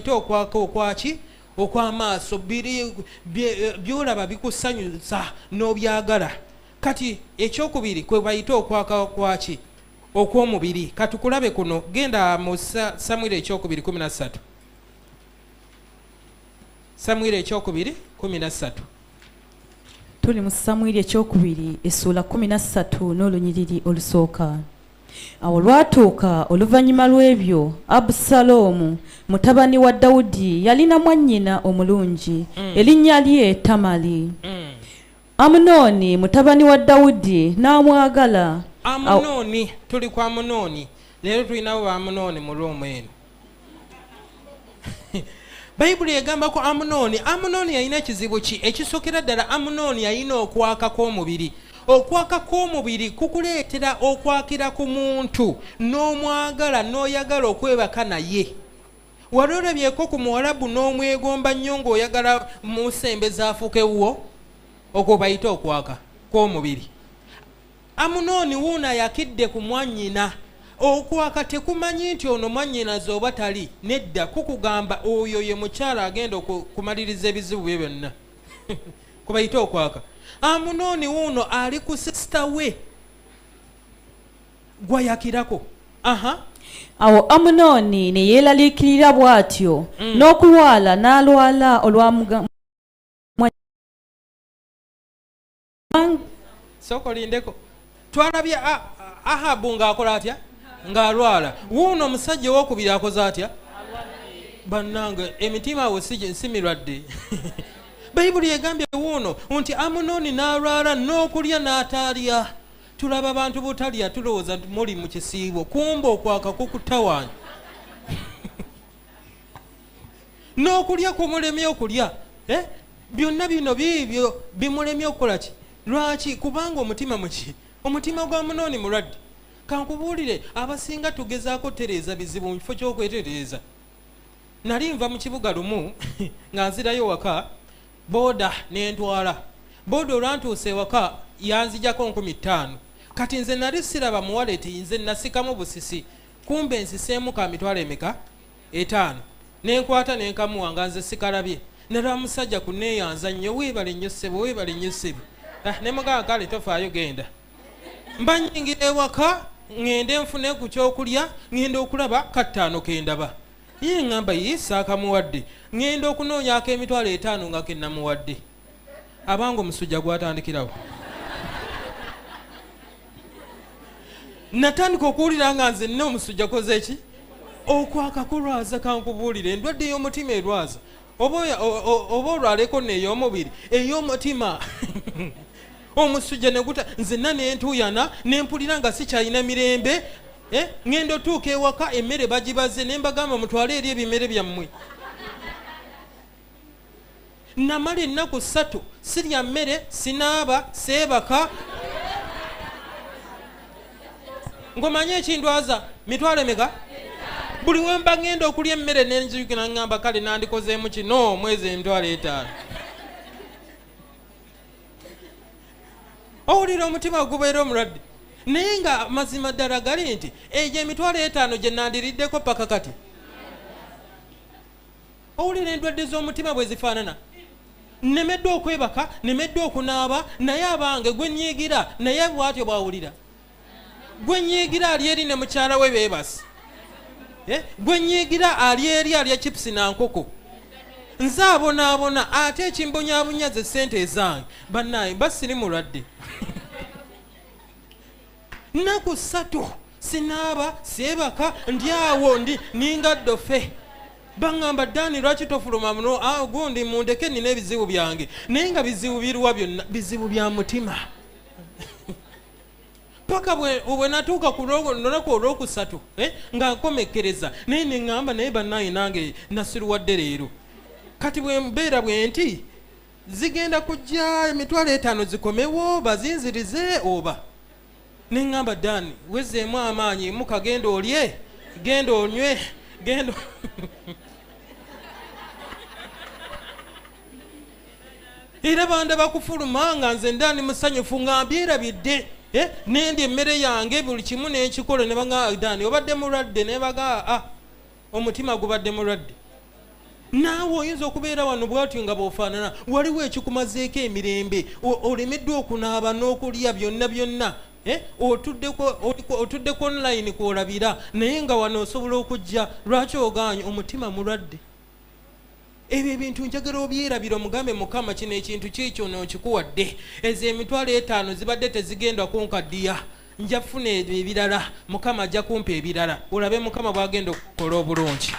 ate okwaka okwaki okwamaaso biri byolaba bikusanyusa n'obyagala kati ekyokubiri kwe bayita okwaka kwaki okw'omubiri katukulabe kuno genda mu samwiri ekyokubiri kumi nassatu samwiri ekyokubiri kumi nassatu tuli mu samwiri ekyokubiri essuula kumi nassatu n'olunyiriri olusooka Awo olwatuuka oluvannyuma lw'ebyo, Abusaloomu mutabani wa Dawudi yalina mwannyina omulungi, mm. erinnya lye Tamali. Mm. Amunooni mutabani wa Dawudi n'amwagala. Amunooni, tuli ku Amunooni leero, tulinawo ba Amunooni mu Rooma eno. bayibuli egamba ku amunooni amunooni yalina ekizibu ki ekisokera ddala amunooni yalina okwaka kw'omubiri okwaka kw'omubiri kukuleetera okwakira ku muntu n'omwagala n'oyagala okwebaka naye wali olabyeko ku muwalabu n'omwegomba nnyo ng'oyagala musembeza afuuka ewuwo okwo bayita okwaka kw'omubiri Amunooni wuuno ayakidde ku mwannyina. Okwaka tekumanyi nti ono mwannyinaze oba tali, nedda, kukugamba oyo ye mukyala agenda okumaliriza ebizibu bye byonna. Kwe bayita okwaka. Amunooni wuuno ali ku sisita we gwayakirako. Aha. Awo Amunooni ne yeeraliikirira bw'atyo mm. n'okulwala n'alwala olwa sooka olindeko twalabye ahabu ng'akola atya ng'alwala wuuno omusajja owokubiri akoze atya bannange emitima awo si mirwadde bayibuli egambye wuuno nti amunooni n'alwala n'okulya n'ataalya tulaba abantu butalya tulowooza nti muli mu kisiibo kumba okwaka kukutawanya n'okulya kumulemye okulya eh? byonna bino biibyo bimulemye okukola ki lwaki kubanga omutima muki omutima gwa munooni mulwadde kankubuulire abasinga tugezaako tereeza bizibu mu kifo ky'okwetereeza nali nva mu kibuga lumu nga nzirayo waka booda nentwala booda olwantuusa ewaka yanzijako nkumi ttaano kati nze nali siraba muwaleti nze nasikamu busisi kumbe nsiseemu ka mitwalo emeka etaano nenkwata nenkamuwa nga nze sikalabye nalwa musajja kuneeyanza nnyo weebale nnyo ssebo weebale nnyo ssebo ah, ne mugamba kale tofaayo genda mba nyingira ewaka ŋŋende nfune ku kyokulya ŋŋenda okulaba kattaano ke ndaba ye ŋŋamba ye saakamuwadde ŋŋenda okunoonyako emitwalo etaano nga ke namuwadde abange omusujja gwatandikirawo natandika okuwulira nga nze nina omusujja koze ki okwakakulwaza kankubuulire endwadde ey'omutima erwaza oba olwaleko neey'omubiri ey'omutima omusujja neguta nzenna nentuyana nempulira nga sikyalina mirembe eh, ŋenda otuuka ewaka emmere bagibaze nembagamba mutwale eri ebimere byammwe namala ennaku ssatu sirya mmere sinaaba seebaka ngomanye ekindwaza mitwalo emeka buli wemba ngenda okulya emmere nenzigina ngamba kale nandikozeemu kino mwezi emitwalo etaano owulira omutima gubeera omulwadde naye nga mazima ddala gali nti egyo emitwalo etaano gye nandiriddeko paka kati owulira endwadde z'omutima bwe zifaanana nemeddwa okwebaka nemeddwa okunaaba naye abange gwe nyiigira naye bwatyo bwawulira gwe nyiigira ali eri ne mukyala we beebasi eh? gwe nyiigira ali eri alya chipusi na nkoko nze abonaabona ate ekimbonyabonya ze ssente ezange bannaye basiri mulwadde nnaku ssatu sinaaba seebaka ndi awo ndi ninga ddofe baŋŋamba dani lwaki tofuluma muno ah, gundi mundeke nina ebizibu byange naye nga bizibu biruwa byonna bizibu bya mutima paka bwe natuuka ku lunaku olwokusatu eh, nga nkomekkereza naye neŋŋamba naye bannaye nange nasiruwadde leero kati bwembeera bwe nti zigenda kujja emitwalo etaano zikomewo bazinzirize oba neŋŋamba dani wezeemu amaanyi muka genda olye genda onywe genda era banda bakufuluma nga nze ndani musanyufu nga mbyerabidde eh, nendi emmere yange buli kimu nenkikola nebaga dani obadde mulwadde nebaga a ah, omutima gubadde mulwadde naawe oyinza okubeera wano bwatyo nga bwofaanana waliwo ekikumazeeko emirembe olemeddwa okunaaba n'okulya byonna byonna eh? otuddeko online kwolabira naye nga wano osobola okujja lwaki ogaanyi omutima mulwadde ebyo ebintu njagala obyerabira omugambe mukama kino ekintu kyekyo nonkikuwadde ezo emitwalo etaano zibadde tezigenda kunkaddiya nja kufuna ebyo ebirala mukama ajja kumpa ebirala olabe mukama bwagenda okukola obulungi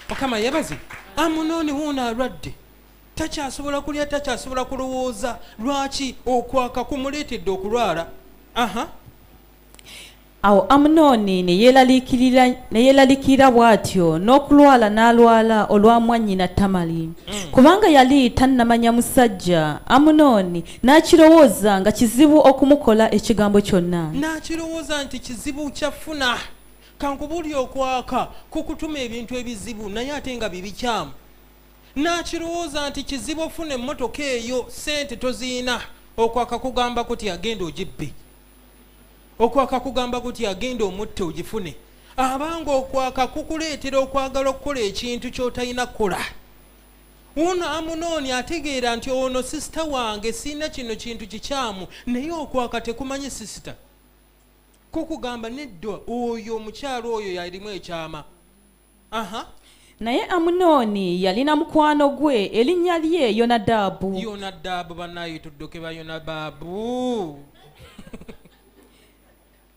mukama yebazi amunooni wuuno alwadde takyasobola kulya takyasobola kulowooza lwaki okwaka kumuleetedde okulwala aha uh -huh. Awo Amunooni ne yeeraliikirira ne yeeraliikirira bw'atyo n'okulwala n'alwala olwa mwannyina Tamali, mm. kubanga yali tannamanya musajja. Amunooni n'akirowooza nga kizibu okumukola ekigambo kyonna. N'akirowooza nti kizibu kyafuna kankubuli okwaka ku kutuma ebintu ebizibu naye ate nga bibikyamu. N'akirowooza nti kizibu ofuna emmotoka eyo ssente toziyina okwaka kugamba kuti agenda ogibbe. okwaka kugamba kuti agenda omutte ogifune abanga okwaka kukuleetera okwagala okukola ekintu kyotalina kukola wuno amunooni ategeera nti ono sisita wange siina kino kintu kikyamu naye okwaka tekumanyi sisita kukugamba nedda oyo omukyalo oyo yalimu ekyama Aha. naye amunooni yalina mukwano gwe erinnya lye yonadaabu yona daabu banaye tudduke ba yona baabu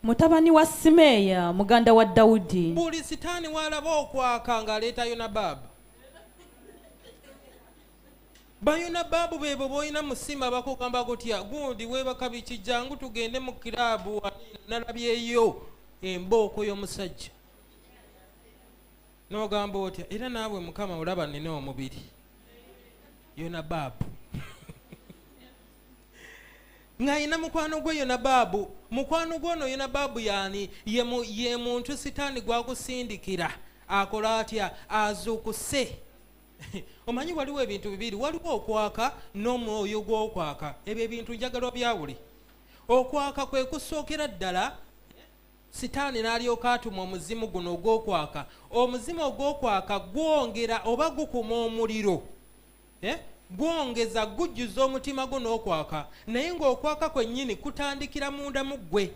mutabani wa simeeya muganda wa dawudi buli sitaani walaba okwaka ng'aleeta yona baabu bayona baabu bebo boolina musima bakugamba gutya gundi webaka biki jangu tugende mu kiraabu nalabyeyo embooko y'omusajja n'ogamba otya era naawe mukama olaba nina omubiri yona baabu ng'alina mukwano gwe yona baabu mukwano gwe ono yona baabu yaani ye muntu sitaani gwakusindikira akola atya azuukuse omanyi waliwo ebintu bibiri waliwo okwaka n'omwoyo gw'okwaka ebyo ebintu njagala obyawule okwaka kwe kusookera ddala Sitaani n'alyoka atuma omuzimu guno ogw'okwaka. Omuzimu ogw'okwaka gwongera oba gukuma omuliro eh? gwongeza gujjuza omutima gwo n'okwaka naye ng'okwaka kwennyini kutandikira munda mu ggwe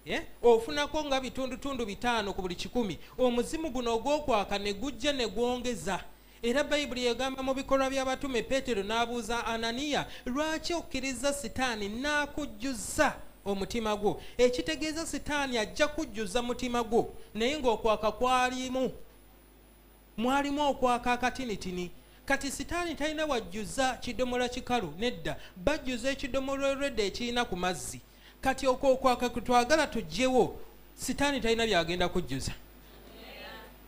eh? ofunako nga bitundutundu bitaano ku buli kikumi omuzimu guno ogw'okwaka ne gujja ne gwongeza Era Bayibuli egamba mu bikolwa by'abatume Peetero n'abuuza Ananiya, lwaki okkirizza Sitaani n'akujjuza omutima gwo? Ekitegeeza Sitaani ajja kujjuza mutima gwo, naye ng'okwaka kwalimu, mwalimu okwaka akatinitini. Kati Sitaani talina wajjuza kidomola kikalu, nedda, bajjuza ekidomola olwedda ekirina ku mazzi. kati okwo okwaka kutwagala tujjewo sitaani talina byagenda kujjuza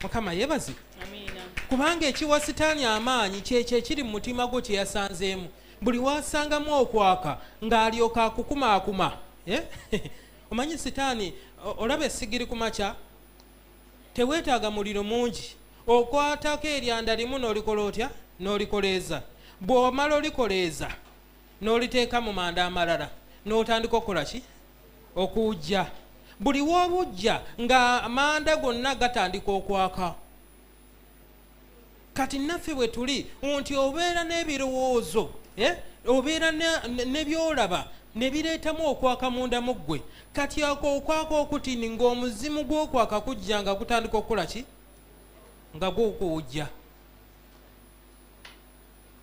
mukama yebazi kubanga ekiwa sitaani amaanyi kyekyo ekiri mu mutima gwo kyeyasanzeemu buli wasangamu okwaka ng'alyoka akukumaakuma eh? omanyi sitaani olaba esigiri ku makya teweetaaga muliro mungi okwatako eryanda limu n'olikola otya n'olikoleeza bw'omala olikoleeza n'oliteeka mu manda amalala n'otandika okukola ki okuwujja buli w'obujja ng'amanda gonna gatandika okwaka kati naffe bwe tuli nti obeera n'ebirowoozo eh, obeera nebyolaba nebireetamu okwaka munda mu ggwe kati ako okwaka okutini ng'omuzimu gw'okwaka kujja nga gutandika okukola ki nga gw'okuwujja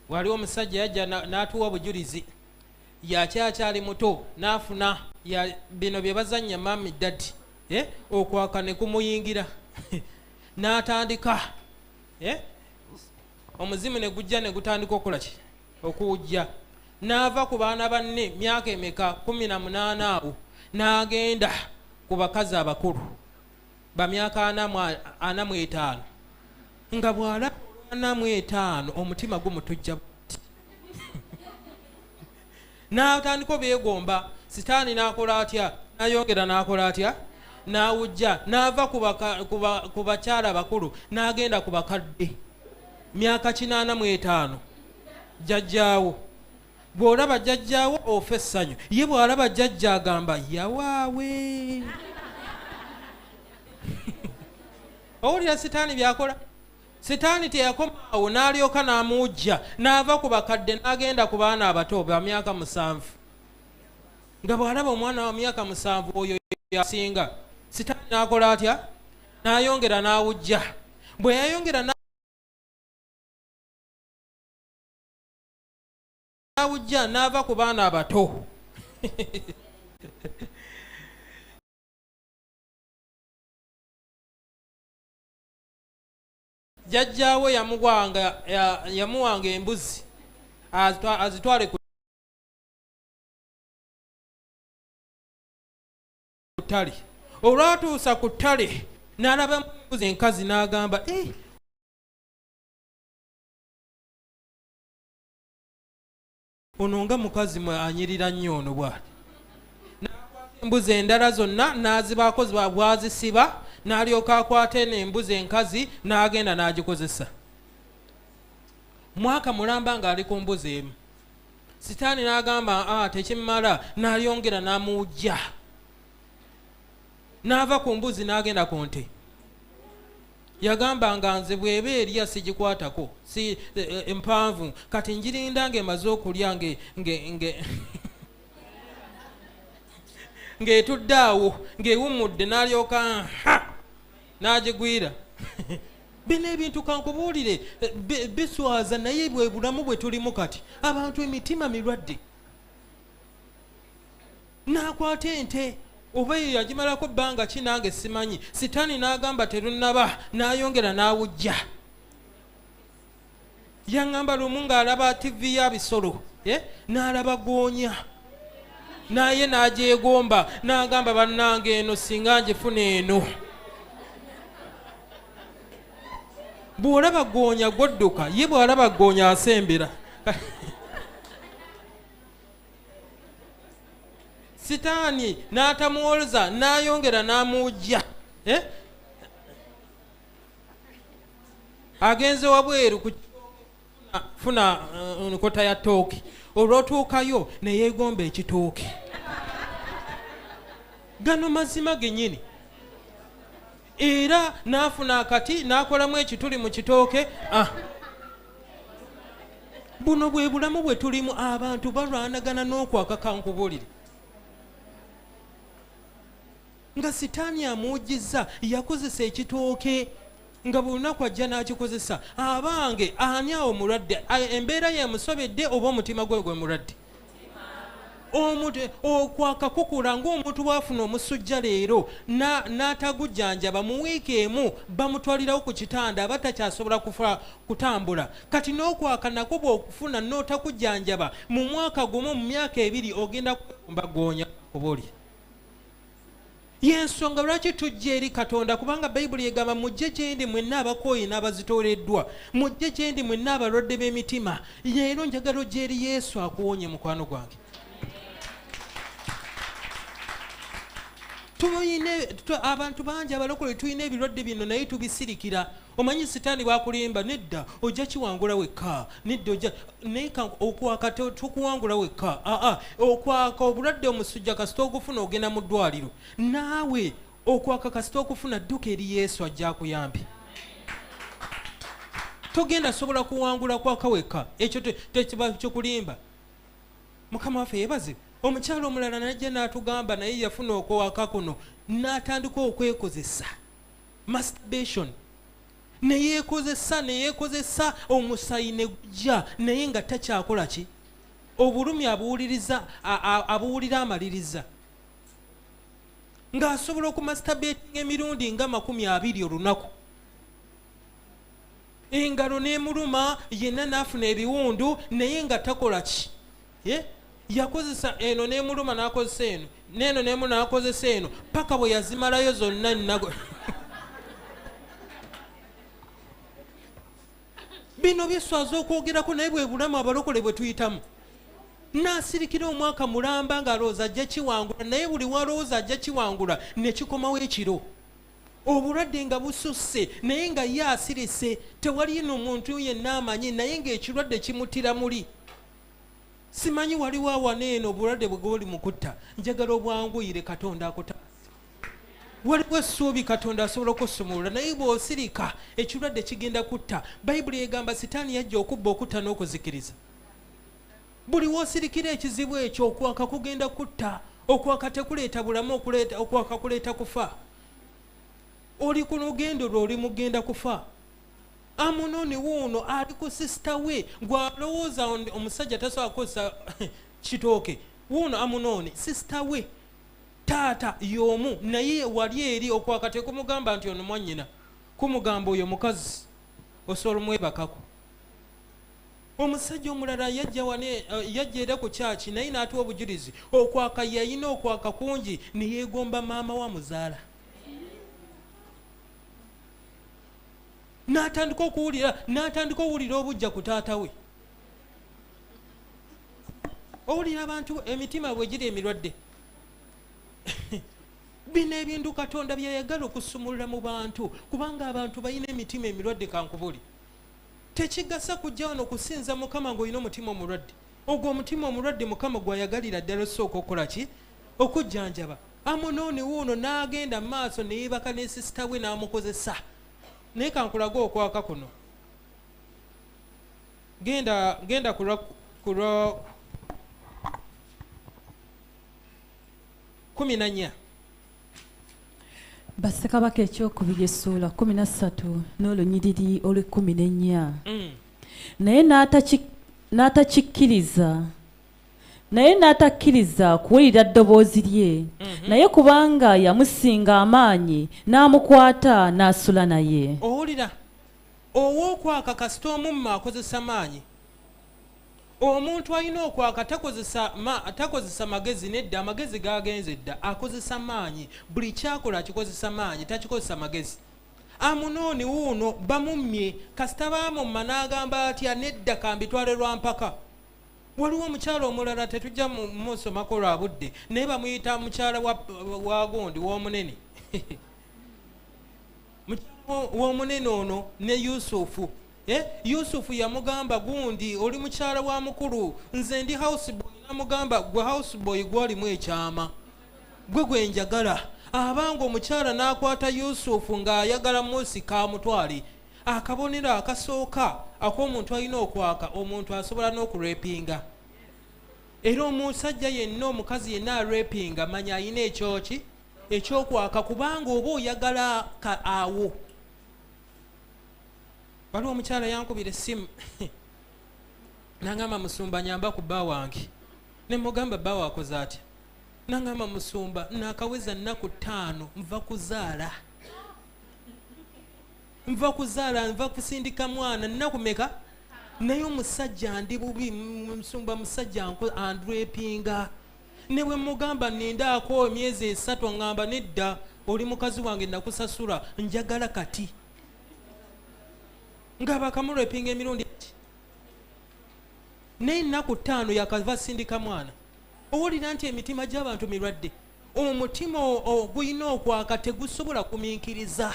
waliwo omusajja yajja n'atuwa bujulizi yakyakyali muto n'afuna bino bye bazannya mami dadi eh, okwaka ne kumuyingira n'atandika eh, omuzimu ne gujja ne gutandika okukola ki okuwujja n'ava ku baana banne myaka emeka kumi na munaana awo n'agenda ku bakazi abakulu bamyaka ana mu etaano nga bwala ana mu etaano omutima gumutujja n'atandika obeegomba sitaani n'akola atya n'ayongera n'akola atya n'awujja n'ava ku bakyala bakulu n'agenda ku bakadde myaka kinaana mu etaano jjajjaawo bw'olaba jajjaawo ofa essanyu ye bw'alaba jajja agamba yawaawe owulira sitaani byakola sitaani teyakomaawo n'alyoka n'amuujja n'ava ku bakadde n'agenda ku baana abato ba myaka musanvu nga bw'alaba omwana wa myaka musanvu oyo yasinga sitaani n'akola atya n'ayongera n'awujja bwe yayongera awujja n'ava ku baana abato jajjaawe yamuwanga yamuwanga embuzi azitwale ku ttale olwatuusa ku ttale n'alabamu embuzi enkazi n'agamba eh, ono nga mukazi mwe anyirira nnyo ono bwati embuzi endala zonna n'azibaako bwazisiba n'alyoka akwata eno embuzi enkazi n'agenda n'agikozesa mwaka mulamba ng'ali ku mbuzi emu sitaani n'agamba a ah, tekimala n'alyongera n'amuwujja n'ava ku mbuzi n'agenda ku nte yagamba nga nze bweba erya sigikwatako si eh, eh, empanvu kati njirinda ngaemaze okulya ng'etudde awo ng'ewummudde n'alyoka ha n'agigwira bino ebintu kankubuulire eh, biswaza naye bwe bulamu bwe tulimu kati abantu emitima mirwadde n'akwata ente oba eyo yagimalako bbanga ki nange simanyi sitaani n'agamba terunnaba n'ayongera n'awujja yaŋŋamba lumu ng'alaba tivi ya bisolo eh, n'alaba goonya naye n'agyegomba n'agamba bannange eno singa ngifuna eno bw'olaba goonya gwodduka ye bw'alaba goonya asembera sitaani n'atamuwolza n'ayongera n'amuwujja eh? agenze wabweru kufuna eh, nkota ya tooki olwotuukayo neyegomba ekitooki gano mazima genyini era n'afuna akati n'akolamu ekituli mu kitooke ah. buno bwe bulamu bwe tulimu abantu balwanagana n'okwakaka nkubulire nga sitaani amuwujjizza yakozesa ekitooke nga buli lunaku ajja n'akikozesa abange ani awo mulwadde embeera yemusobedde oba omutima gwe gwe mulwadde omuntu okwakakukula ngaomuntu bwafuna omusujja leero n'atagujjanjaba mu wiiki emu bamutwalirawo ku kitanda aba takyasobola kufa kutambula kati n'okwaka nakwo bwokufuna n'otakujjanjaba mu mwaka gumu mu myaka ebiri ogenda kumbagoonya oba oli yensonga lwaki tujja eri katonda kubanga bayibuli egamba mujje gyendi mwenna abakooyi n'abazitooleddwa mujje gyendi mwenna abalwadde b'emitima leero njagala ojja eri yesu akuwonye mukwano gwange abantu bangi abalokole tulina ebirwadde bino naye tubisirikira omanyi sitaani bwakulimba nedda ojja kiwangula wekka nedda ojja naye okwaka tokuwangula wekka aa okwaka obulwadde omusujja kasita ogufuna ogenda mu ddwaliro naawe okwaka kasita okufuna dduka eri yesu ajja akuyambi togenda sobola kuwangula kwaka wekka ekyo tekiba kikulimba mukama waffe yebaze omukyalo omulala najja n'atugamba naye yafuna okwaka kuno n'atandika okwekozesa masturbation neyekozesa neyekozesa omusayi negujja naye nga takyakola ki obulumi abuwuliriza abuwulira amaliriza ng'asobola okumasitabetinga emirundi nga makumi abiri olunaku engalo n'emuluma yenna n'afuna ebiwundu naye nga takola ki yakozesa eno nemuluma nakozesa eno neeno nemu nakozesa eno paka bwe yazimalayo zonna nnago bino byeswaza okwogerako naye bwe bulamu abalokole bwe tuyitamu nasirikira omwaka mulamba ngaalowooza ajja kiwangula naye buli walowooza ajja kiwangula nekikomawo ekiro obulwadde nga bususse naye nga ye asirise tewali no muntu yenna amanyi naye ngaekirwadde kimutira muli simanyi waliwo awana eno obulwadde bwe gwoli mukutta njagala obwanguyire katonda akuta waliwo essuubi katonda asobola okusumulula naye bw'osirika ekirwadde kigenda kutta bayibuli egamba sitaani yajja okubba okutta n'okuzikiriza buli w'osirikira ekizibu ekyo okwaka kugenda kutta okwaka tekuleeta bulamu okwaka kuleeta kufa oli ku lugendo lwe oli mugenda kufa amunoni wuuno ali ku sisita we gwalowooza omusajja tasobola kukozesa kitooke wuuno amunoni sisita we taata yomu naye wali eri okwakati kumugamba nti ono mwanyina kumugamba oyo mukazi osobola omwebakako omusajja omulala yajja eh, era ku kyaki naye naatuwa obujulizi okwaka yayina okwaka kungi neyegomba maama wa muzaala natandika okuwulira natandika owulira obujja ku taata we owulira abantu emitima bwe giri emirwadde bino ebintu katonda byeyagala okusumulula mu bantu kubanga abantu balina emitima emirwadde kankubuli tekigasa kujja wano kusinza mukama ngaolina omutima omulwadde ogwo omutima omulwadde mukama gwayagalira ddala osooka okukola ki okujjanjaba Amunoni wuuno n'agenda mu maaso ne yeebaka ne sisita we n'amukozesa naye kankulage okwaka kuno genda genda kulwa kulwa kumi na nnya bassekabaka ekyokubiri essuula kumi na ssatu n'olunyiriri olw'ekkumi n'ennya mm. naye n'atakikkiriza naye n'atakkiriza kuwulira ddoboozi lye mhm. naye kubanga yamusinga amaanyi n'amukwata n'asula naye owulira ow'okwaka kasita omumma akozesa maanyi omuntu alina okwaka takozesa magezi nedda amagezi gagenze dda akozesa maanyi buli kyakola akikozesa maanyi takikozesa magezi amunooni wuuno bamummye kasita baamumma n'agamba atya nedda kambitwale lwa mpaka waliwo omukyala omulala tetujja musomako lwa budde naye bamuyita mukyala wagundi womunene womunene ono ne yusufu eh, yusufu yamugamba gundi oli mukyala wa mukulu nze ndi houseboy namugamba gwe houseboy gwolimu ekyama gwe gwenjagala abanga omukyala nakwata yusufu ngaayagala musika amutwale akabonero akasooka ak'omuntu alina okwaka omuntu asobola n'okurepinga era omusajja yenna omukazi yenna arepinga manya alina ekyoki ekyokwaka kubanga oba oyagala ka awo waliwo omukyala yankubira essimu nangamba musumba nyamba ku bba wange nemugamba bba wakoze atya nangamba musumba nakaweza nnaku ttaano nva kuzaala nva kuzaala nva kusindika mwana nnaku meka naye omusajja ndi bubi musumba musajja andrepinga ne bwe mugamba nindaako emyezi esatu ngamba nedda oli mukazi wange nakusasula njagala kati nga bakamurepinga emirundi ti naye nnaku ttaano yakava sindika mwana owulira nti emitima gy'abantu mirwadde omutima ogulina okwaka tegusobola kuminkiriza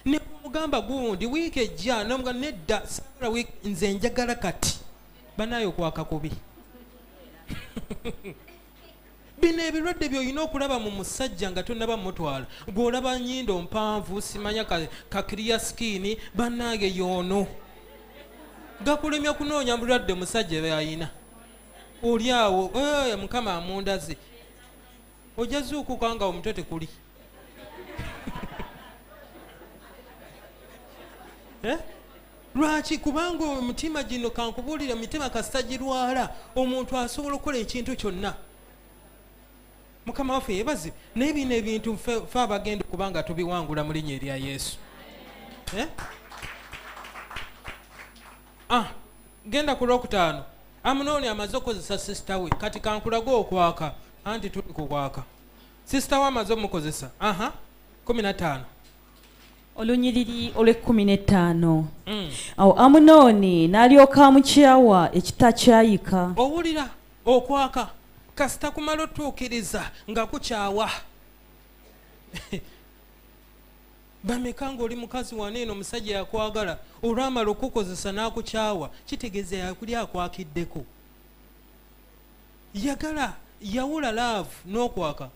nemugamba gundi wiiki ejja nomuga nedda sabula wiik nze njagala kati banaye okwaka kubi bino ebirwadde byolina okulaba mu musajja nga tonaba mutwala gweolaba nyindo mpanvu simanya kakiriya sikiini banange yoono gakulemya kunoonya bulwadde musajja byalina oli awo eh, mukama amundazi ojja zuukuka nga omutwe tekuli eh? lwaki kubanga omutima gino kankubuulire omitima kasita girwala omuntu asobola okukola ekintu kyonna mukama waffe yebazi naye bino ebintu fe abagenda okuba nga tubiwangula mu linya erya yesu eh? ah, genda ku lwokutaano amunooni amaze okukozesa sisita we kati kankulage okwaka anti tuli kukwaka sisita we amaze omukozesa aha kumi nataano olunyiriri olw'ekkumi n'ettaano mm. awo amunooni n'alyoka amukyawa ekitakyayika owulira okwaka kasita kumala otuukiriza nga kukyawa bameka ngaoli mukazi wana eno omusajja yakwagala olwamala okukukozesa n'akukyawa kitegeeza yakuli akwakiddeko yagala yawula laavu n'okwaka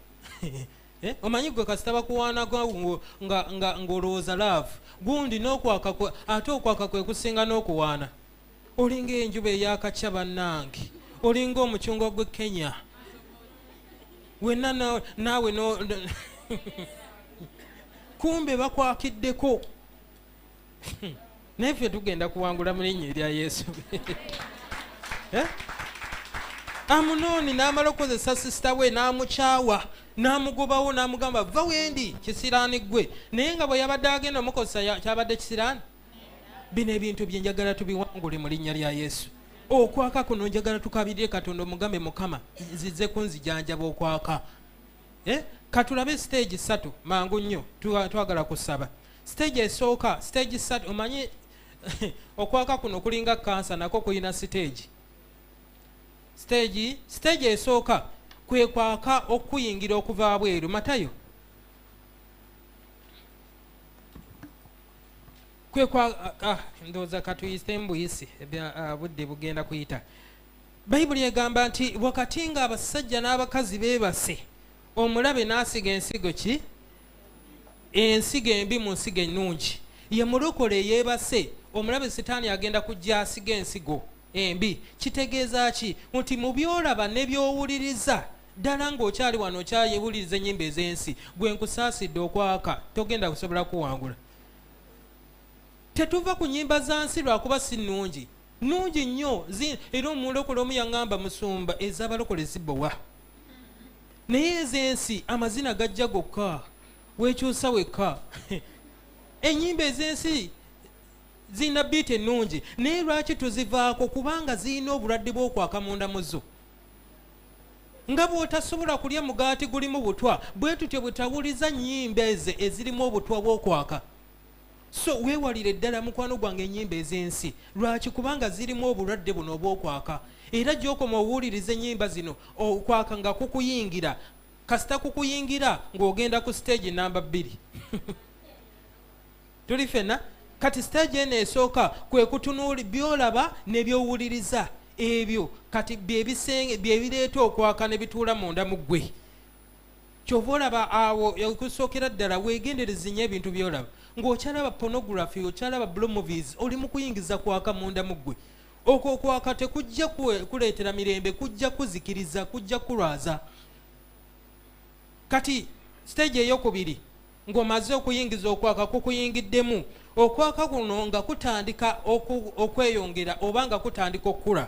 eh, omanyi gwe kasita bakuwaanaga ng'olowooza laavu gundi n'okwaka ate okwaka kwe kusinga n'okuwaana olinga enjuba eyakakya bannange olinga omucungwa gwe kenya wena naawe no kumbe bakwakiddeko naye ffe tugenda kuwangula mu linnya erya yesu eh? amunooni n'amala okukozesa sisita we n'amukyawa n'amugobawo n'amugamba va wendi kisiraani ggwe naye nga bwe yabadde agenda omukozesa kyabadde kisiraani bino ebintu bye njagala tubiwangule mu linnya lya yesu okwaka kuno njagala tukabirire katonda omugambe mukama nzize kunzijanjaba okwaka eh? katulabe stage satu mangu nnyo twagala kusaba stage esooka stage satu omanyi okwaka kuno kulinga kansa nako kulina stage stage stage esooka kwekwaka okuyingira okuva bweru matayo kwekwa ah, ah, ndowooza katuyise mbuyisi ah, budde bugenda kuyita bayibuli egamba nti wakati nga abasajja n'abakazi beebase omulabe n'asiga ensigo ki ensigo embi mu nsigo ennungi ye mulokole eyeebase omulabe sitaani agenda kujja asiga ensigo embi kitegeeza ki nti mu byolaba ne byowuliriza Ddala ng'okyali wano okyayewuliriza ennyimba ez'ensi, gwe nkusaasidde okwaka, togenda kusobola kuwangula. Tetuva ku nnyimba za nsi lwakuba si nnungi, nnungi nnyo era omulokole omu yaŋŋamba musumba ez'abalokole zibowa naye ez'ensi amazina gajja gokka wekyusa wekka ennyimba ez'ensi zirina biita ennungi naye lwaki tuzivaako kubanga zirina obulwadde bw'okwaka munda muzo nga bw'otasobola kulya mugaati gulimu butwa bwe tutyo bwe tawuliza nnyimba ezo ezirimu obutwa bw'okwaka so weewalire ddala mukwano gwange ennyimba ez'ensi lwaki kubanga zirimu obulwadde buno obw'okwaka era gy'okoma owuliriza ennyimba zino okwaka nga kukuyingira kasita kukuyingira ng'ogenda ku siteegi namba bbiri tuli fena kati stage eno esooka kwekutunuuli byolaba nebyowuliriza ebyo kati byebisenge byebireeta okwaka nebituula munda mu ggwe kyova olaba awo okusookera ddala wegenderezi nyo ebintu byolaba ngaokyalaba pornography okyalaba blue movies oli mukuyingiza kwaka munda mu ggwe okwo okwaka tekujja kuleetera mirembe kujja kuzikiriza kujja kulwaza kati stage eyokubiri Ng'omaze okuyingiza okwaka kukuyingiddemu, okwaka kuno nga kutandika okweyongera oba nga kutandika okukula.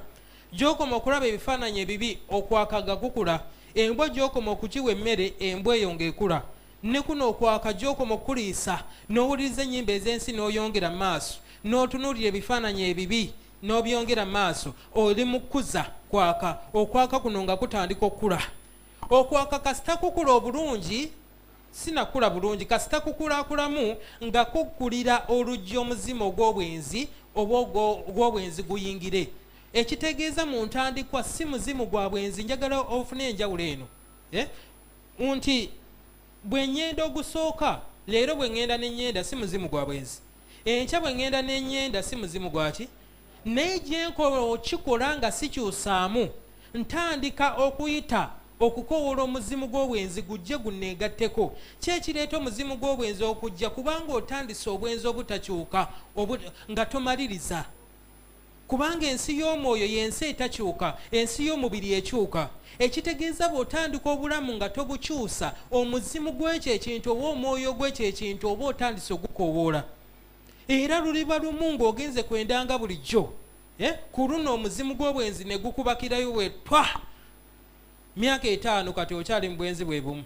Gy'okoma okulaba ebifaananyi ebibi, okwaka ga kukula. Embwa gy'okoma okugiwa emmere, embwa eyo ng'ekula. Ne kuno okwaka gy'okoma okukuliisa, n'owuliriza ennyimba ez'ensi n'oyongera maaso, n'otunuulira ebifaananyi ebibi n'obyongera maaso, oli mu kukuza kwaka. Okwaka kuno nga kutandika okukula. Okwaka kasita kukula obulungi. Sinakula bulungi kasita kukulakulamu nga kugkulira oluggi omuzimu ogw'obwenzi oba ogw'obwenzi guyingire. Ekitegeeza mu ntandikwa si muzimu gwa bwenzi njagala ofune enjawulo eno. Eh? Nti bwe nyenda ogusooka leero bwe ngenda ne nyenda si muzimu gwa bwenzi. Enkya bwe ngenda ne nyenda si muzimu gwaki? Naye gye nkola okukikola nga sikyusaamu, ntandika okuyita okukowoola omuzimu gw'obwenzi gujje gunneegatteko. Ki ekireeta omuzimu gw'obwenzi okujja? Kubanga otandise obwenzi obutakyuka obu, nga tomaliriza. Kubanga ensi y'omwoyo y'ensi etakyuka, ensi y'omubiri ekyuka. Ekitegeeza bw'otandika obulamu nga tobukyusa, omuzimu gw'ekyo ekintu oba omwoyo gw'ekyo ekintu oba otandise ogukowoola. era luliba lumu ng'ogenze kwendanga bulijjo eh, ku luno omuzimu gw'obwenzi ne gukubakirayo wetwa myaka etaano kati okyali mu bwenzi bwe bumu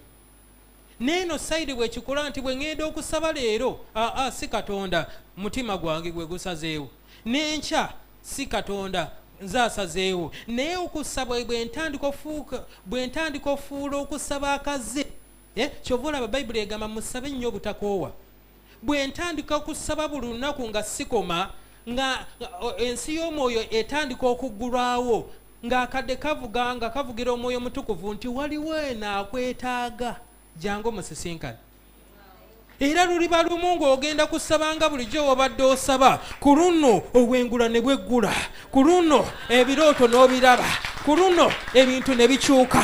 neeno sayidi bwekikola nti bwe ŋŋenda okusaba leero aa si katonda mutima gwange gwe gusazeewo n'enkya si katonda nze asazeewo naye okusaba bwe ntandika ofuula okusaba akaze eh, kyova olaba bayibuli egamba musabe nnyo obutakoowa bwe ntandika okusaba buli lunaku nga sikoma nga ensi y'omwoyo etandika okuggulwawo ng'akadde kavuga nga kavugira omwoyo omutukuvu nti waliwo eno akwetaaga jangu musisinkane era luliba lumu ng'ogenda kusaba nga bulijjo wobadde osaba ku luno obwengula ne bweggula ku luno ebirooto n'obiraba ku luno ebintu ne bikyuka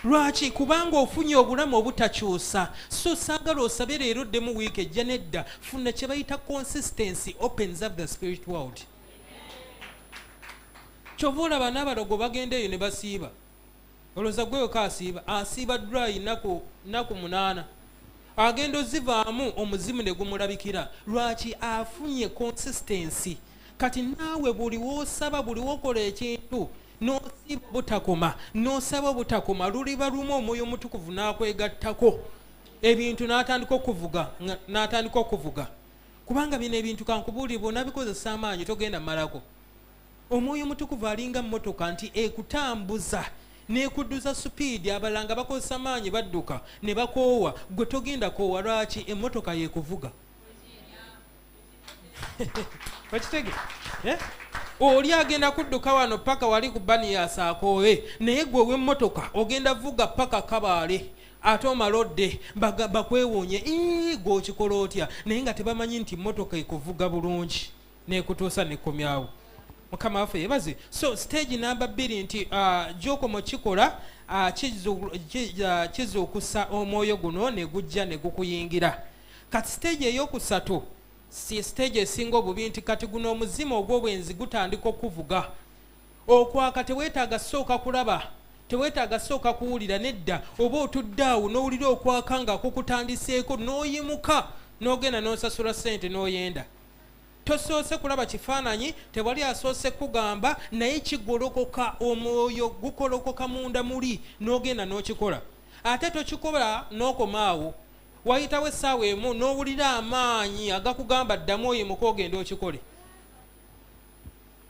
Lwaki? Kubanga ofunye obulamu obutakyusa. So saagala osabe leero oddemu wiiki ejja nedda. Funa kye bayita consistency opens up the spirit world. Kyova olaba n'abalogo bagenda eyo ne basiiba. Olowooza gwe weka asiiba? Asiiba dry naku naku munaana. Agenda ozivaamu omuzimu ne gumulabikira. Lwaki? Afunye consistency. Kati naawe buli w'osaba buli w'okola ekintu. n'osiiba obutakoma n'osaba obutakoma luliba lumu omwoyo omutukuvu n'akwegattako ebintu n'atandika okuvuga n'atandika okuvuga kubanga bino ebintu kankubuulire bwonabikozesa amaanyi togenda malako omwoyo omutukuvu alinga mmotoka nti ekutambuza nekudduza supiidi abalala nga bakozesa maanyi badduka ne bakoowa gwe togenda koowa lwaki emmotoka yekuvuga okitege eh? oli agenda kudduka wano paka wali ku bani yasakoowe naye gwe owemmotoka ogenda vuga paka kabaale ate omalodde bakwewuunye gwe okikola otya naye nga tebamanyi nti mmotoka ekuvuga bulungi nekutuusa nekomyawo mukama waffe yebaze so stage namba bbiri nti ah, gyokomo kikola ah, kizuukusa ah, omwoyo guno negujja negukuyingira kati siteegi eyokusatu si siteegi esinga obubi nti kati guno omuzimu ogw'obwenzi gutandika okuvuga okwaka teweetaaga sooka kulaba teweetaaga sooka kuwulira nedda oba otudde awo n'owulira okwaka nga kukutandiseeko n'oyimuka n'ogenda n'osasula ssente n'oyenda tosoose kulaba kifaananyi tewali asoose kugamba naye kigolokoka omwoyo gukolokoka munda muli n'ogenda n'okikola ate tokikola n'okomaawo wayitawo essaawa emu n'owulira amaanyi agakugamba ddamu oyo muka ogenda okikole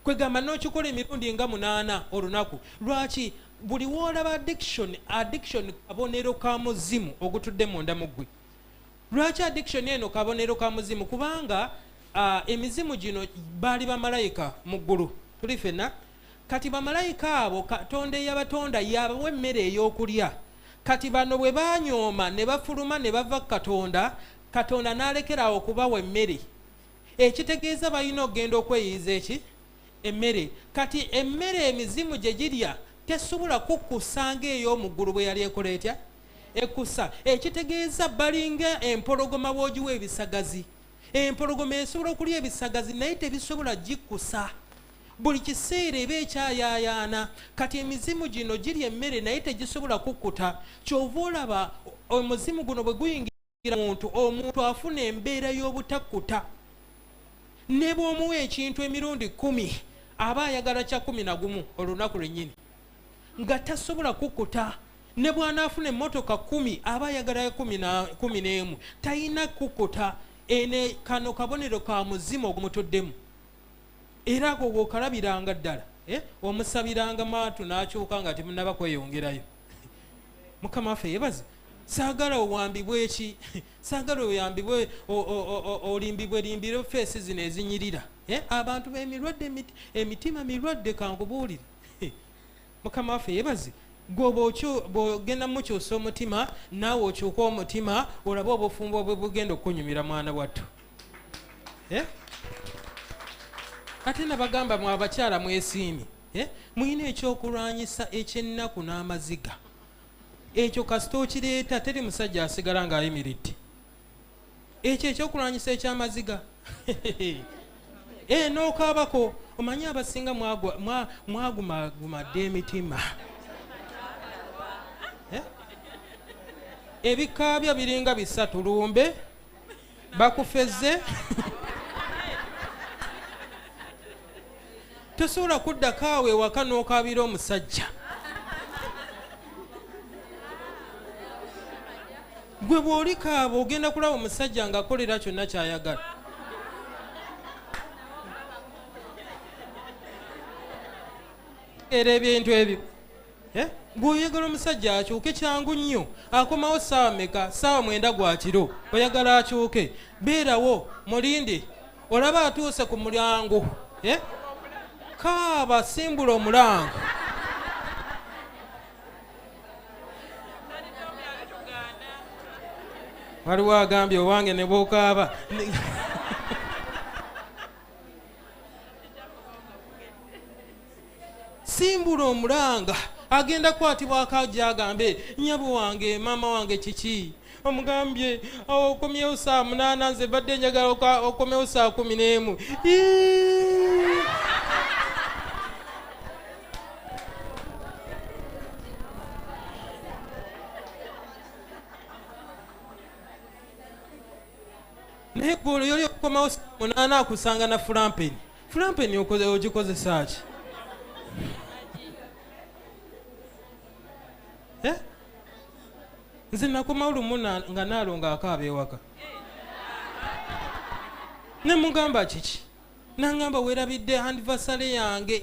kwegamba n'okikola emirundi nga munaana olunaku lwaki buli woolaba addiction addiction kabonero ka muzimu ogutudde munda mu ggwe lwaki addiction eno kabonero ka muzimu kubanga uh, emizimu gino baali bamalayika mu ggulu tuli fenna kati bamalayika abo katonda eyabatonda yabawa emmere ey'okulya Kati bano bwe baanyooma ne bafuluma ne bava ku Katonda, Katonda n'alekera awo okubawa emmere. Ekitegeeza balina okugenda okweyiiza eki? Emmere. Kati emmere emizimu gye girya tesobola kukkusa ng'ey'omu ggulu bwe yali ekola etya? Ekkusa. Ekitegeeza balinga empologoma bw'ogiwa ebisagazi. Empologoma esobola okulya ebisagazi naye tebisobola gikkusa. buli kiseera eba ekyayaayaana kati emizimu gino girya emmere naye tegisobola kukkuta kyova olaba omuzimu guno bwe guyingira muntu omuntu afuna embeera y'obutakkuta ne bw'omuwa ekintu emirundi kumi aba ayagala kya kumi na gumu olunaku lwennyini nga tasobola kukkuta ne bw'anaafuna emmotoka kumi aba ayagala ya kumi n'emu talina kukkuta ene kano kabonero ka muzimu ogumutuddemu era ago wokalabiranga ddala eh? omusabiranga maatu nakyuka nga temunaba kweyongerayo mukama waffe yebaze sagala owambibwe eki sagala oyambibwe olimbibwe limbire feesi zino ezinyirira eh? abantu bemirwadde emitima mirwadde kankubuulire mukama waffe yebaze gwe bwogenda mukyusa omutima naawe okyuka omutima olabe obufumbo bwe bugenda okukunyumira mwana wattu eh? ate nabagamba mwe abakyala mwesiimi eh? mulina ekyokulwanyisa ekyennaku n'amaziga ekyo kasita okireeta teri musajja asigala ng'ayimiridde ekyo ekyokulwanyisa ekyamaziga eh, nokaabako omanyi abasinga mwagumaguma dda emitima eh? ebikaabya biringa bisatu lumbe bakufeze tosobola kuddako awo ewaka n'okaabira omusajja gwe bw'oli kaaba ogenda kulaba omusajja ng'akolera kyonna ky'ayagala era ebintu ebyo eh? bw'oyagala omusajja akyuke kyangu nnyo akomawo saawa meka saawa mwenda gwa kiro oyagala akyuke beerawo mulinde olaba atuuse ku mulyango eh? kaaba simbula omulanga waliwo agambye owange ne bwokaaba simbula omulanga agenda kwatibwako ajagambe nyabo wange maama wange kiki omugambye awo okomyewo saa munaana nze badde njagala okomyewo saa kumi n'emu naye golo yoli okukomawo munaana akusanga na fulampeni fulampeni ogikozesa ki eh? nze nakoma lumu nga naalonga akaaba ewaka ne mugamba kiki nangamba werabidde anniversary yange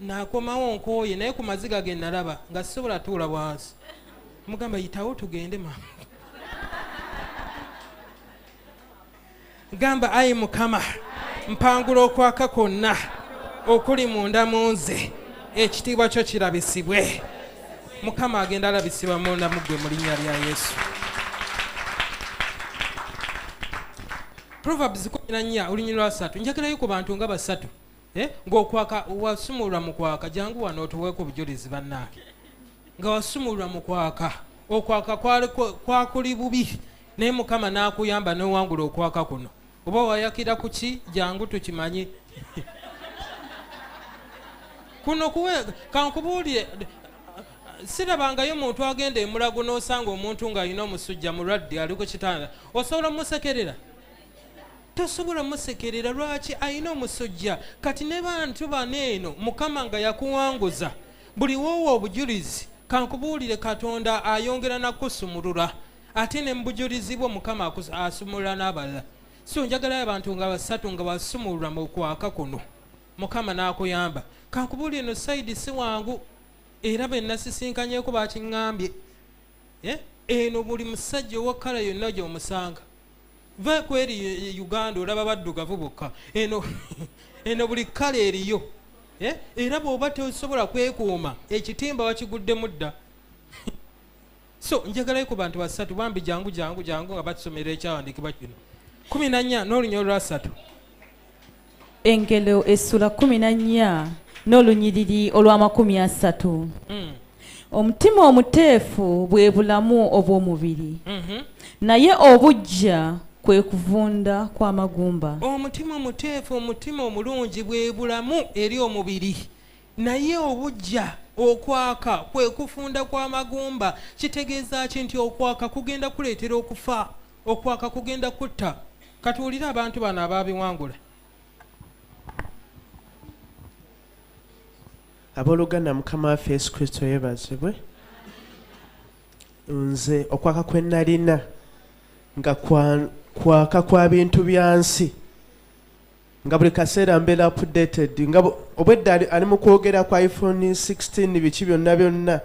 nakomawo nkooye naye ku maziga ge nalaba nga sisobola tuula bwansi mugamba yitawo tugende mama gamba ayi mukama mpangula okwaka kwonna okuli munda mu nze ekitiibwa kyo kirabisibwe mukama agenda alabisibwa munda muggwe mu linnya lya yesu proverbs kumina nnya olunyini lwasatu njagirayo ku bantu nga basatu eh? ngaokwaka wasumulwa mu kwaka jangu wano otuweeku obujulizi bannaake nga wasumulwa mu kwaka okwaka kwakuli bubi naye mukama nakuyamba newangula okwaka kuno oba wayakira kuki jangu tukimanye kuno kuwe kankubuulire sirabangayo muntu agenda emulago nosanga omuntu ngaalina omusujja mulwadde ali ku kitanda osobola musekerera tosobola musekerera lwaki alina omusujja kati ne bantu bano eno mukama nga yakuwanguza buli woowa obujulizi kankubuulire katonda ayongera nakusumulula ate ne mubujulizi bwo mukama asumulula n'abalala so njagalayo abantu nga basatu nga basumulula mu kwaka kuno mukama n'akuyamba kankubuli eno saidi si wangu era be nasisinkanyeko bakiŋambye eh? eno buli musajja owakala yonna gyomusanga va kweri uganda olaba baddugavu bokka eno eno buli kala eriyo eh? era bwoba tosobola kwekuuma ekitimba wakiguddemu dda so njagalayo ku bantu basatu bambi jangu jangu jangu nga batusomera ekyawandiikibwa kino kumi na nnya n'olunya olwasatu engelo essula kumi na nnya n'olunyiriri olw'amakumi asatu mm. omutima omuteefu bwe bulamu obw'omubiri mm -hmm. naye obujja kwe kuvunda kw'amagumba omutima omuteefu omutima omulungi bwe bulamu eri omubiri Naye obujja okwaka kwe kufunda kwa magumba kitegeeza ki nti okwaka kugenda kuleetera okufa okwaka kugenda kutta katuwulire abantu bano abaabiwangula abooluganda mukama waffe yesu kristo yebazibwe nze okwaka kwe nalina nga kwaka kwa bintu bya nsi nga buli kaseera mbeera updated nga obwedda ali mu kwogera kwa iphone 16 biki byonna byonna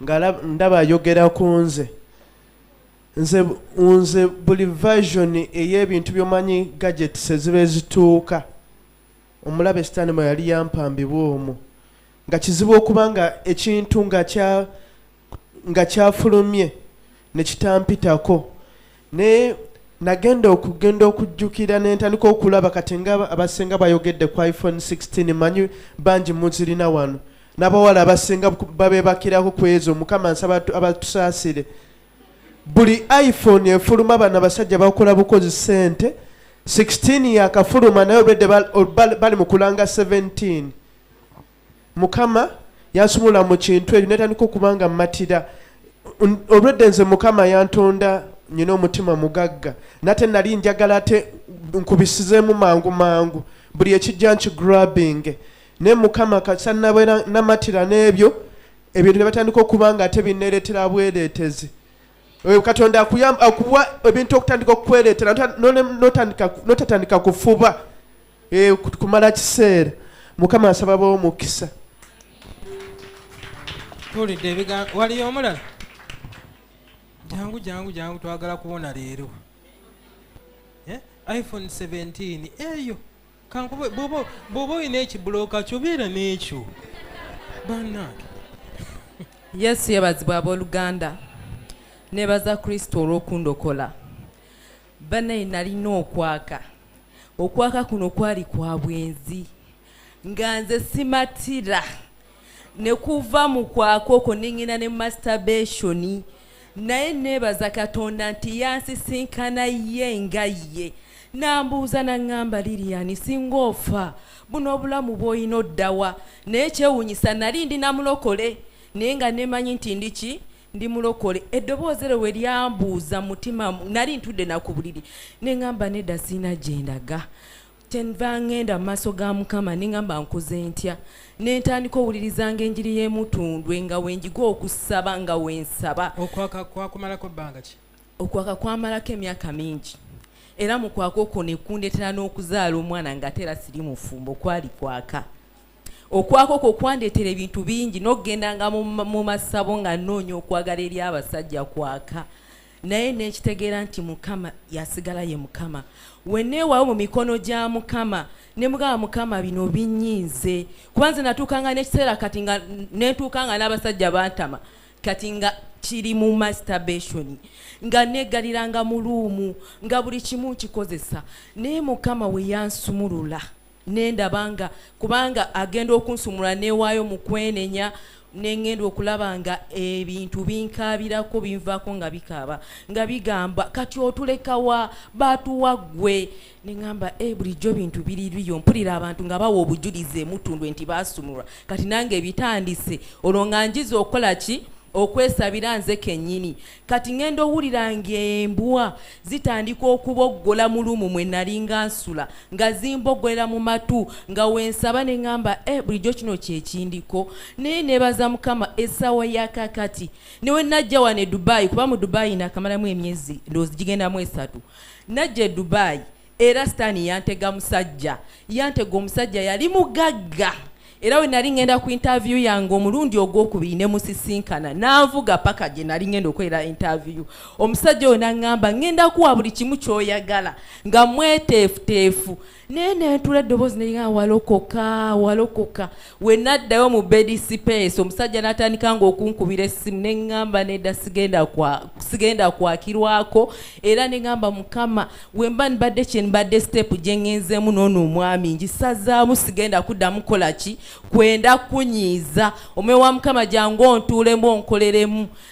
nga ndaba ayogera ku nze nze nze buli version ey'ebintu byomanyi gadgets eziba ezituuka omulabe sitaani mwe yali yampambibwa omwo nga kizibu okuba nga ekintu nga kya nga kyafulumye ne kitampitako naye nagenda okugenda okujjukira nentandika okulaba kati nga abasinga bayogedde ku iphone 16 manyi bangi muzirina wano nabawala abasinga babebakirako ku ezo mukama nsaba abatusaasire buli iphone efuluma bano abasajja bakola bukozi sente 16 yakafuluma naye obedde bali mu kulanga 17 mukama yansumula mu kintu ekyo netandika okuba nga mmatira olwedde nze mukama yantonda nyina omutima mugagga nate nali njagala ate nkubisizeemu mangu mangu buli ekijja nkigrabing naye mukama kasa nabeera namatira n'ebyo ebintu ne batandika okuba nga ate bineeretera bwereetezi katonda akuwa ebintu okutandika okukwereetera notatandika kufuba Eh, kumala kiseera mukama asaba bawo mukisa tulidde ebigambo waliyo omulala jangu jangu jangu twagala kubona leero eh, iphone 17 eyo kankube bwoba olina ekibuloka kyobeera n'ekyo banange yesu yebazibwa abooluganda nebaza kristo olw'okundokola banaye nalina okwaka okwaka kuno kwali kwa bwenzi nga nze simatira ne kuva mu kwaka okwo nengenda ne masturbation naye neebaza katonda nti yansisinkana ye nga ye nambuuza naŋŋamba liriyani singa ofa buno obulamu bw'olina oddawa naye kyewuunyisa nali ndi namulokole naye nga nemanyi nti ndi ki ndi mulokole eddoboozi eryo we lyambuuza mutima nali ntudde naku buliri neŋamba nedda sirina gye ndaga kyenva ŋŋenda mu maaso ga mukama neŋamba nkoze ntya ne ntandika owulirizanga enjiri y'emutundwe nga wenjiga okusaba nga wensaba okwaka kwakumalako bbanga ki okwaka kwamalako emyaka mingi era mu kwaka okwo ne kundeetera n'okuzaala omwana nga ate era siri mufumbo kwali kwaka okwaka okwo kwandeetera ebintu bingi n'okugendanga mu masabo nga nnoonya okwagala eri abasajja kwaka naye nekitegeera nti mukama yasigala ye mukama weneewawo mu mikono gya mukama ne mugamba mukama bino binyiize kuba nze natuukanga n'ekiseera kati nga netuuka nga n'abasajja bantama kati nga kiri mu masturbation nga negaliranga mu luumu nga buli kimu nkikozesa naye mukama weyansumulula nendaba nga kubanga agenda okunsumula newaayo mu kwenenya nengenda okulaba nga ebintu binkaabirako binvaako nga bikaaba nga bigamba kati otulekawa batuwa ggwe neŋamba e eh, bulijjo bintu biririyo mpulira abantu nga bawa obujulizi emutundwe nti basumulwa kati nange ebitandise olwo nga njiza okukola ki okwesabira nze kennyini kati ngenda owulira ng'embwa zitandika okuboggola mu lumu mwe nalinga nsula nga zimboggolera mu matu nga wensaba ne ŋŋamba e eh, bulijjo kino kyekindiko naye nebaza mukama essaawa yakakati newe najja wano e dubaayi kuba mu dubaayi nakamalamu emyezi ndowoozi gigendamu esatu najja e dubaayi era sitaani yantega musajja yantega omusajja yali mugagga era we nali ngenda ku interview yange omulundi ogwokubiri ne musisinkana nanvuga paka gye nali ngenda okwera interview omusajja oyo nangamba ngenda kuwa buli kimu kyoyagala nga mweteefuteefu naye nentula eddoboozi neringa walokoka walokoka we naddayo mu bedi sipeesi omusajja n'atandika ng'okunkubira essimu ne ŋŋamba nedda sigenda kwakirwako era ne ŋŋamba mukama wemba nibadde kye nibadde siteepu gye ŋŋenzeemu n'ono omwami ngisazaamu sigenda kuddamu kola ki kwenda kunyiiza omwoyo wa mukama gyangu ontuulemu onkoleremu